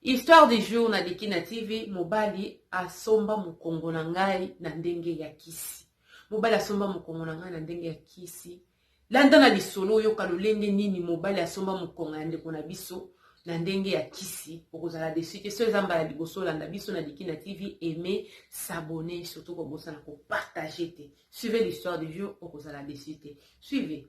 Histoire du jour na Dikina TV, mobali asomba mukongo na ngai na ndenge ya kisi. Mobali asomba mukongo na ngai na ndenge ya kisi. Landa na lisolo oyoka lolenge nini mobali asomba mukongo ya ndeko na biso na ndenge ya kisi okozala desu te soki eza mbala liboso olanda biso na liki na tv aime s'abonne surtout kobosana kopartage te suivez l'histoire du jour okozala desu te suivez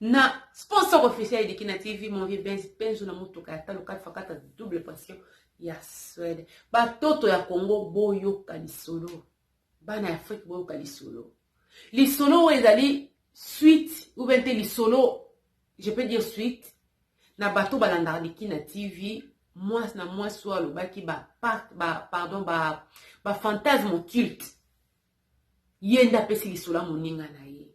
na sponsor officiel ya dikina tv mon vieux benz benzo na motuka ya talo 4 fois 4 double pression ya swede batoto ya congo boyoka lisolo bana ya afrike boyoka lisolo lisolo oyo ezali suite ou bien te lisolo je peux dire suite na bato balandaka dikina tv mwasi na mwasi oyo alobaki ba, ba, pardon ba, ba fantasme occulte ye nde apesi lisolo ya moninga na ye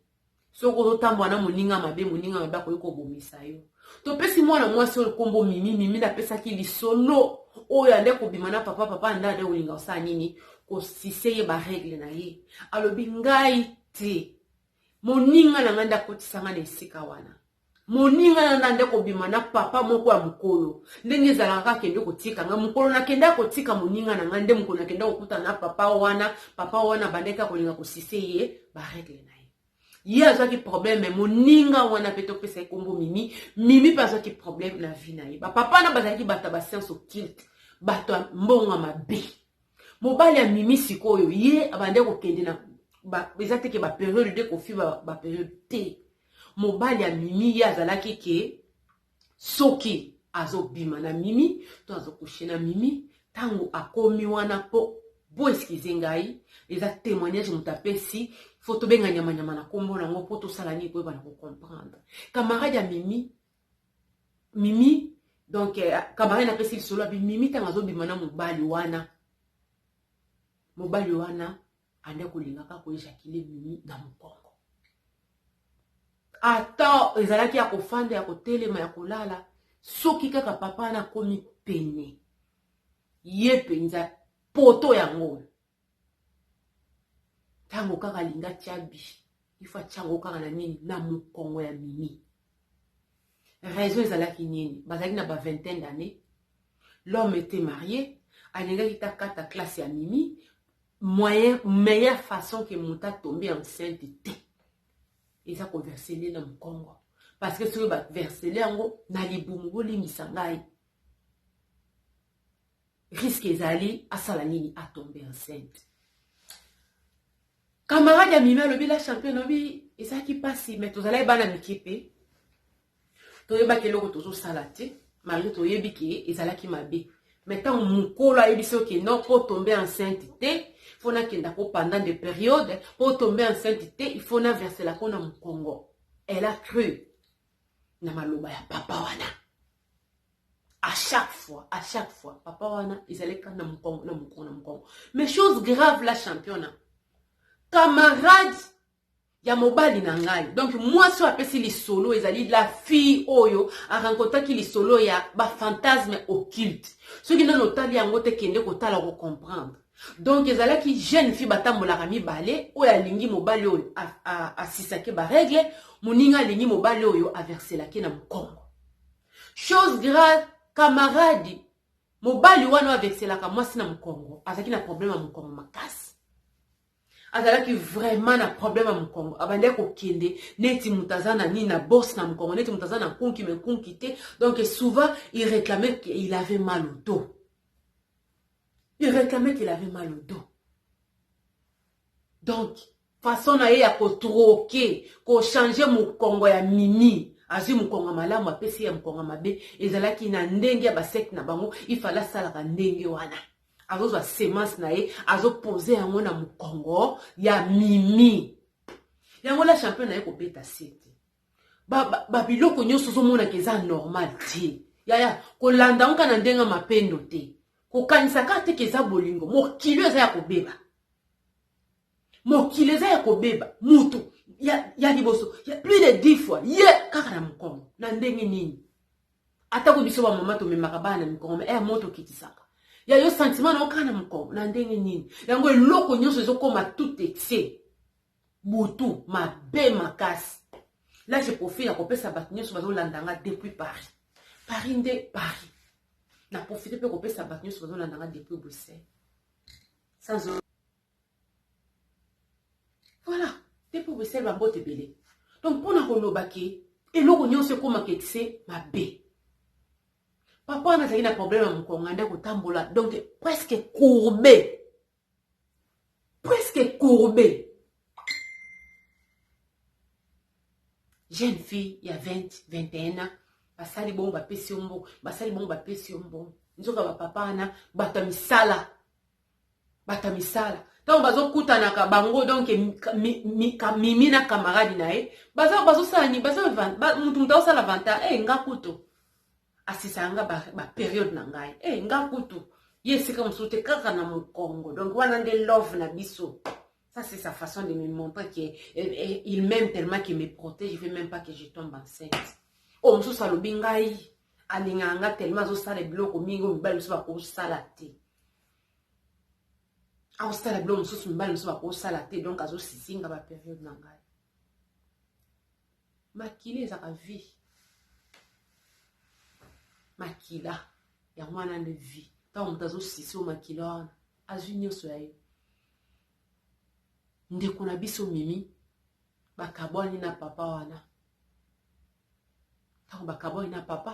soki ozotambola na moninga mabe moninga mabe akoki kobomisa yo topesi mwana mwasi oyo nkombo mimi mimi nde apesaki lisolo oyo ande kobima na papa papa ande ade kolinga kosala nini kosise ye baregle na ye alobi ngai te moninga na ngai nde akotisa ngai na esika wana Moninga na nga nde kobima na papa moko ya mokolo ndenge ezalaka akende kotika nga mokolo nakendaki kotika moninga na nga nde mokolo nakendaki kokutana na papa wana papa wana abandaki akolinga kosise ye baregle na ye ye azwaki probleme moninga wana mpe topesa ye kombo mimi mimi mpe azwaki probleme na vie na ye bapapa wana bazalaki bato ya basiance occulte bato ya mbongo ya mabe mobali ya mimi sikoyo ye abandaki kokende na eza teke baperiode de kofiba baperiode te Mobali ya mimi ye azalaki ke soki azobima na mimi to azo coucher na mimi tango akomi wana po bo excuse ngai eza temoignage moto apesi fo tobenga nyamanyama na kombo na yango po tosala nini koyeba na kocomprendre camarade ya mimi mimi donc eh, camarade napesi lisolo abi mimi ntango azobima na mobali wana mobali wana anda kolinga kaka koejakile mimi na mokongo ata ezalaki ya kofanda ya kotelema ya kolala soki kaka papa wana akomi pene ye mpenza poto yango oyo ntango kaka alinga tya bi ifo atya yango kaka na nini na mokongo ya mimi raison ezalaki nini bazalaki na ba vingtaine d'année l'homme était marié alingaki takata classe ya mimi Moyen meilleur façon que moto a tomber enceinte te eza ko verser nde na mukongo parce que soki ba verser yango na libumu bolimbisa ngai risque ezali asala nini atombe enceinte camarade ya mimi alobi la champion alobi ezalaki mpasi mai tozalaki bana mike mpe toyebaki eloko tozosala te malgre toyebi ke ezalaki mabe me ntango mokolo ayebisi yo ke non mpo tombe enceinte te mpo nakendako pendant de periode mpo tombe enceinte te ifo naverselako na mokongo elle a cru na maloba ya papa wana à chaque fois à chaque fois papa wana ezali kaka na mokongo na mokongo na mokongo mais chose grave la championna camarade ya mobali na ngai donc mwasi oyo apesi lisolo ezali la fille oyo arencontraki lisolo ya bafantasme occulte soki nano otali yango te kende kotala kocomprendre donc ezalaki jeune fille batambolaka mibale oyo alingi mobali oyo asisake baregle moninga alingi mobali oyo averselaki na mokongo chose grave kamaradi mobali wana oyo averselaka mwasi na mokongo azalaki na probleme ya mokongo makasi azalaki vraiment na problème ya mokongo abandaki kokende neti moto aza na nini na bourse na mokongo neti moto aza na kunki me kunki te donc souvent il réclamait qu'il avait mal au dos il réclamait qu'il avait mal au dos donc façon na ye ya kotroke kochange mokongo ya mimi azwi mokongo malamu apesi ya mokongo mabe ezalaki na ndenge ya basekte na bango ifale asalaka ndenge wana azozwa semence na ye azopose yango na mokongo ya mimi yango la champion na ye kobeta se te babiloko nyonso ozomonaka eza normal te yaya kolanda yango kaka na ndenge ya mapendo te kokanisa kaka te ke eza bolingo mokili oyo eza ya kobeba mokili eza ya kobeba mutu ya, ya liboso ya plus de 10 fois ye yeah, kaka na mokongo na ndenge nini atako biso bamama tomemaka bana na mikongo eh, mo tokitisaka ya yo sentiment na yo kaka na mokongo na ndenge nini yango eloko nyonso ezokoma tout etie butu mabe makasi la je profite ya kopesa bato nyonso bazolanda nga depuis paris paris nde paris na profite mpe kopesa bato nyonso bazolanda nga depuis bruxelles sans Voilà. Te pour Bruxelles ba mbote ebele. Donc pona koloba ke eloko nyonso ekoma ke tse mabe. Papa wana azali na problème ya mokonga nde kotambola donc presque courbé. Presque courbé. Jeune fille ya 20, 21 ans basali bongo bapesi yo mbongo basali bongo bapesi yo mbongo nzoka bapapa wana bato ya misala bata misala ntango bazokutanaka bango donc mimi na camarade na ye bazosala nini motu motu azosala vanta e eh, nga kutu asisaka nga baperiode na ngai e eh, nga kutu ye esika mosusu te kaka na mokongo donc wana nde love na biso ça c'est sa façon de me montrer que eh, il m'aime tellement qu'il me protège je veux même pas que je tombe enceinte oyo oh, mosusu alobi ngai alingaka nga tellement azosala biloko mingi oyo mibali mosusu bakosala te akosala biloko mosusu mibali mosusu bakosala te donk azosisinga baperiode na ngai makila ezaka vie makila yango wana nde vie ntango moto azosisi o makila wana azwi nyonso ya ye ndeko na biso mimi bakabwani na papa wana ntango bakabwani na papa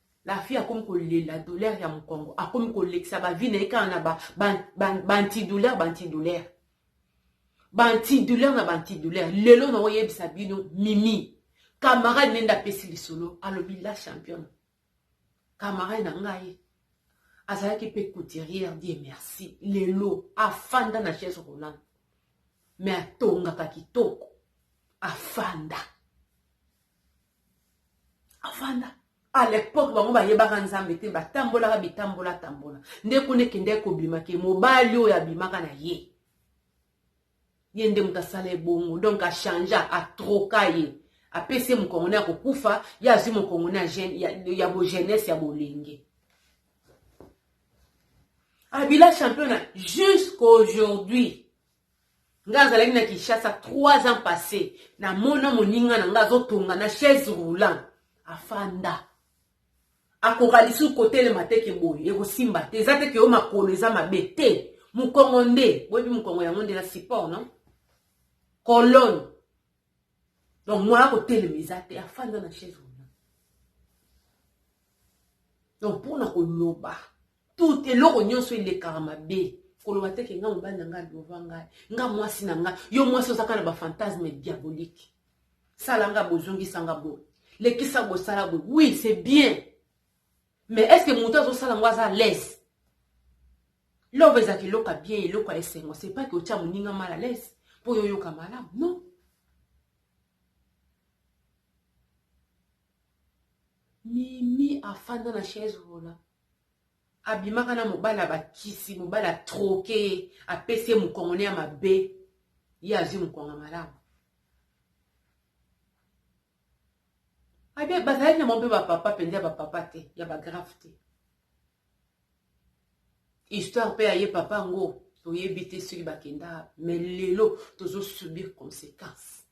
La fille akomi kolela douleur ya mokongo akomi kolekisa bavi na ye kaka na bantidouleur bantidouleur bantidouleur na bantidouleur lelo na oyebisa bino mimi camarade nende apesi lisolo alobi la championne camarade na ngai azalaki mpe couturière die merci lelo afanda na chaise roland me atongaka kitoko afanda avanda à l'époque bango bayebaka nzambe te batambolaka bitambola tambola nde kuna ekendaki kobima ke mobali oyo abimaka na ye ye nde moto asala ebongo donc achangea atroka ye apesi ye mokongone ya kokufa ye azwi mokongone ya bogenese ya bolenge abila championa jusqu'aujourd'hui nga azalaki na kinshasa 3 ans passé namona moninga na nga azotonga na chaise roulant afanda akoka lisusu kotelema te ke boye ekosimba te eza te ke yo makolo eza mabe te mokongo nde boyebi mokongo yango nde na support non colone donc moya kotelema eza te afanda na chaise wana donc mpona koloba Tout eloko nionso elekaka mabe. Koloba te ke nga mobali na nga alova ngai, nga mwasi na nga. Yo mwasi oza kaka na ba fantasmes diaboliques. Sala nga boye, zongisa nga boye. Lekisa boye, sala boye. Oui, c'est bien. Mais est-ce que mutu azo sala ngo aza à l'aise? Love ezalaka eloko ya bien, eloko ya esengo. C'est pas que otia moninga mal à l'aise po yo oyoka malamu. Non. Mimi afanda na chaise roulant. Abimaka na mobali ya ba kisi mobali a troque ye apesi ye mukongo ne ya mabe ye azui mukongo ya malamu abe bazalaki na bango mpe ba papa mpenza ya ba papa te ya ba grave te histoire mpe ya ye papa yango toyebi te soki bakenda me lelo tozosubir conséquence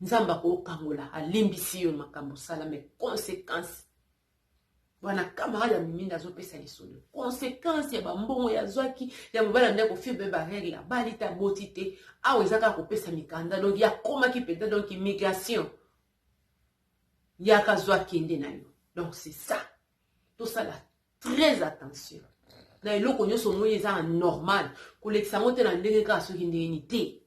nzambe akokangola alimbisi yo makambo osala me conséquence wana camarade ya miminda azopesa lisolo konsekanse ya bambongo ya zwaki ya mobali amida kofilme baregle ya bali te aboti te awa eza kaka kopesa mikanda donk yakomaki mpenza donk immigration yaka zwa kende na yo donk c'est ça tosala très attention na eloko nyonso omoni eza na normal kolekisa yango te na ndenge kaka soki ndenge ni te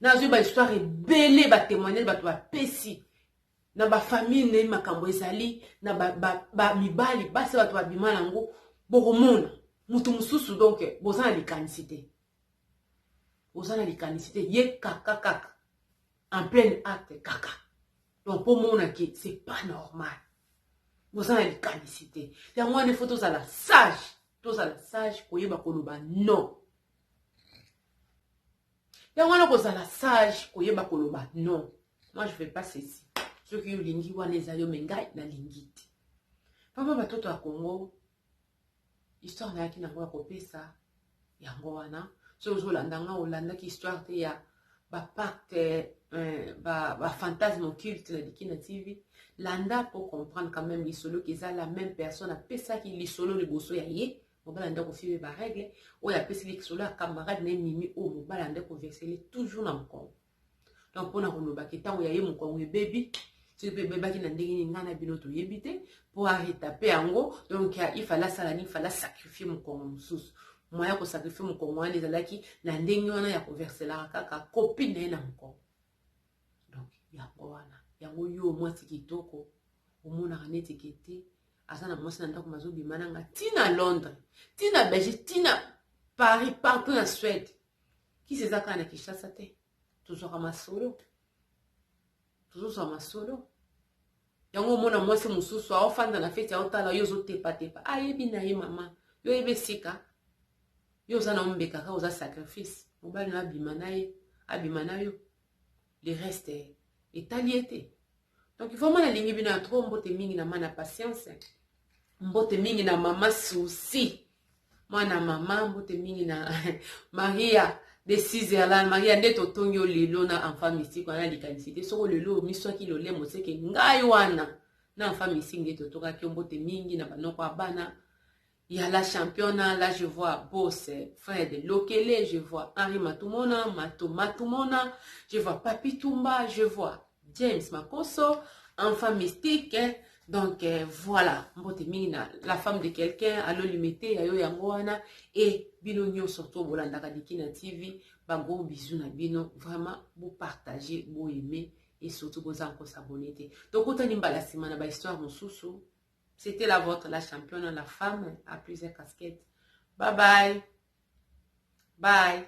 nazwi bahistoire ebele batemoignage bato bapesi na ba famille nde makambo ezali na ba, ba, ba mibali basi bato babima nango bokomona moto mosusu donc boza na likanisi te oza na likanisi te ye kaka kaka en pleine acte kaka donc mpo omona ke c'est pas normal boza na likanisi te yango wana ifo tozala sage tozala sage koyeba koloba non yango wana kozala sage koyeba koloba non moi je fais pas ceci soki olingi wana eza yo me ngai nalingi te papa batoto ya congo histoire nayaki nango ya kopesa yango wana soki ozolanda nga olandaki histoire te ya bapacte euh, bafantasme ba occulte na liki na tv landa po comprendre quand même lisolo keza la même personne apesaki lisolo liboso ya ye mobala nde akofie ba règle oyo apeseli lisolo ya camarade na ye mimi oyo mobala nde koversele toujours na mokongo donc mpona koloba ke ntango ya ye mokongo ebebi soki mpe ebebaki na ndenge nini ngai na bino toyebi te mpo aretape yango donc ifale asala nini fale asakrifie mokongo mosusu moya kosakrifie mokongo wana ezalaki na ndenge wana ya koverselaka kaka kopine na ye na mokongo donc yango wana yango yo mwasi kitoko omonaka neti ke te aza na mwasi na ndako mazobima na nga ti na londres ti na belgique ti na paris partout na suède kisi eza kaka na kinshasa te tozwaka masolo tozozwa masolo yango omona mwasi mosusu aofanda na feti aotala yo ozotepatepa ayebi ah, na ye mama yo oyebi esika yo oza na ombeka kaka oza sacrifice mobali na abima na ye abima na yo le reste etali ye te donc vraiment nalingi bino ya trop mbote mingi na mana patience mbote mingi na mama souci mwana mama mbote mingi na maria de sizerland maria nde totongi yo lelo na enfant mystique wana likanisi te soko lelo omiswaki lolemo seke ngai wana na enfant mystique nde totokaki yo mbote mingi na banoko ya bana ya la championna la je vois bose fred lokele je vois henri matumona mato matumona je vois papi tumba je vois James Makoso, enfant mystique. Donc euh, voilà, mbote mingi na la femme de quelqu'un, alo limete ya yo yango wana et bino nyonso to bolandaka Dikina TV, ba gros bisous na bino, vraiment bo partager, bo aimer et surtout boza ko s'abonner te. Donc otani mbala sima na ba histoire mosusu. C'était la vôtre, la championne, la femme à plusieurs casquettes. Bye bye. Bye.